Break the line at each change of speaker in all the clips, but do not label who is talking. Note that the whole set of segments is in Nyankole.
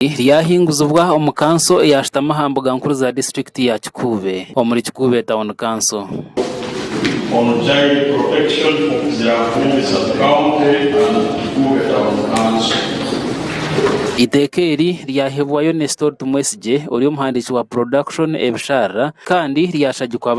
Eizooba ryahinguzibwa omu kanso eyashutami aha mbuga nkuru za disiturikiti ya Kikuube omuri Kikuube Town
Council.
Eiteeka eri ryahebwayo Nestor Tumwesigye ori omuhandiiki wa Production ebisharara kandi ryashagikwa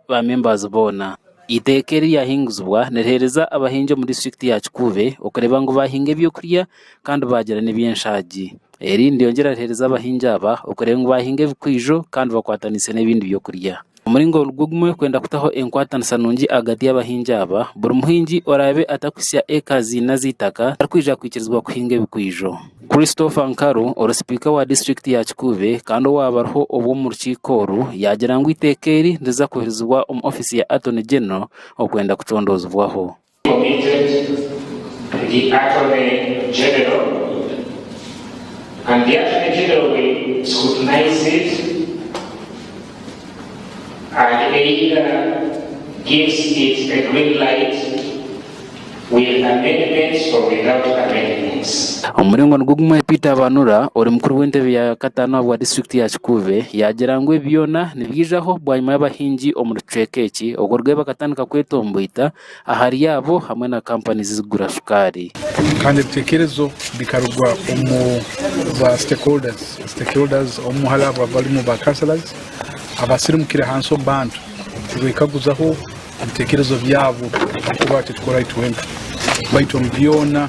ba members boona. Eiteeka eri ryahinguzibwa niriheereza abahingi omu disiturikiti ya Kikuube okureeba ngu baahinga eby'okurya kandi baagira n'eby'enshaagi. Eri niryongyera riheereza abahingi aba okureeba ngu baahinga ebikwijo kandi bakwataniise n'ebindi by'okurya. Omuringo nigwo gumwe kwenda kutaho enkwatanisa nungi ahagati y'abahingi aba, buri muhingi oraabe atakuhitsya eka ziina z'eitaka tarikwija kwikirizibwa kuhinga ebikwijo. Christopher Nkaru ori sipiika wa disiturikiti ya Kikuube kandi owaabariho obwo omu rukiiko oru yaagira ngu eiteeka eri niriza kuhirizibwa omu ofiisi ya Attorney General okwenda kutondoozibwaho.
Aheeira gives it the green light with amendments or without amendments. Omu muringo nigwo gumwe
Peter Banura ori mukuru w'entebe ya kataano ahabwa disiturikiti ya Kikuube yaagira ngu ebi byoona nibyijaho bwanyima y'abahingi omu rucweeka eki oku orweeba akatandika kwetomboita Ahari abo hamwe na kampani zirikugura shukaari. Kandi ebitekerezo
bikarugwa omu ba stakeholders, stakeholders omu hariho abo abarimu ba councillors abasirimukire ahansi omu bantu kubekaguzaho ebitekerezo byabo ahabw'okuba titukorayo twenka baitu omu byona.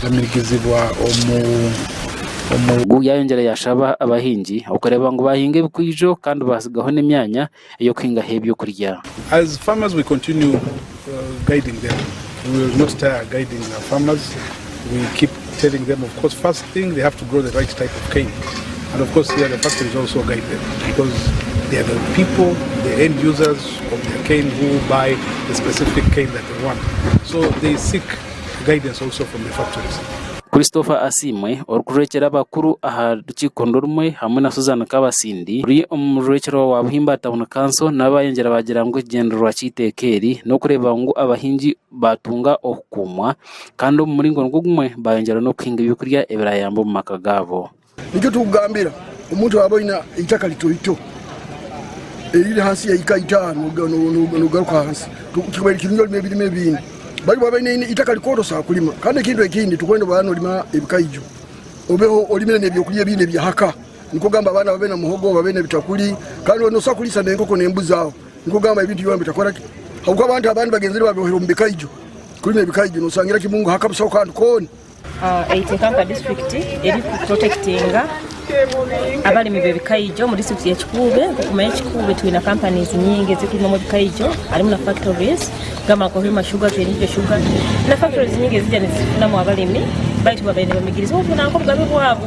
kugamirigizibwa omu. Gu yaayongyera yaashaba abahingi okureeba ngu baahinga ebikwijo kandi baatsigaho n'emyanya ey'okuhingaho eby'okurya. As farmers we continue guiding them we will not tire guiding our farmers we keep telling them of course first thing they have to grow the right type of cane and of course here the factories also guide them because they are the people the end users of the cane who buy the specific cane that they want so they seek Christopher
Asiimwe orikurekyera abakuru aha rukiiko nirumwe hamwe na Suzan Kabasindi ori omurwekyerwa wa Buhimba Town Council nabo bayongyera baagira ngu ekigyendererwa ky'eiteeka eri n'okureeba ngu abahingi baatunga okukuumwa kandi omu muringo nigwo gumwe bayongyera n'okuhinga ebyokurya ebirayamba omu maka gaabo. Nikyo turikugambira
omuntu oraaba oine eitaka ritoito eriri ahansi ya ika itaano noogaruka ahansi, kibaire kirungi orime ebirime ebindi. Bari waaba oine eitaka rikooto oshaba kurima. Kandi ekintu ekindi turikwenda oraba noorima ebikaijo, obeho orimire n'ebyokurya ebindi ebyahaka. Nikugamba abaana babe na muhogo, babe n'ebitakuri, kandi obe noobaasa kuriisa n'enkoko n'embuzi aho. Nikugamba ebintu byona bitakora ki? Ahabw'okuba abantu abandi bagenzire baabibohire omu bikaijo. Kurima ebikaijo nooshangira kimwe ngu haka bushaho kandi koona. Eiteeka nka
disiturikiti eri ku porotekitinga abarimi b'ebikaijo omu disiturikiti ya Kikuube. Okumanya Kikuube twine kampanizi nyingi ezirikurugamu ebikaijo harimu na fakitorizi gamba nka Hoima shuga, Keninkyo shuga na fakitorizi nyingi ezirikuza nizifunamu abarimi baitu babaire nibamigirizibwa kunaku obugabe bwabo.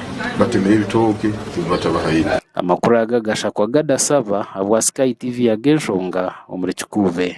batemire ebitooke ebi batabahaire.
Amakuru aga gashakwa gadasaba abwa
Sky
TV yaga enshonga omuri Kikuube.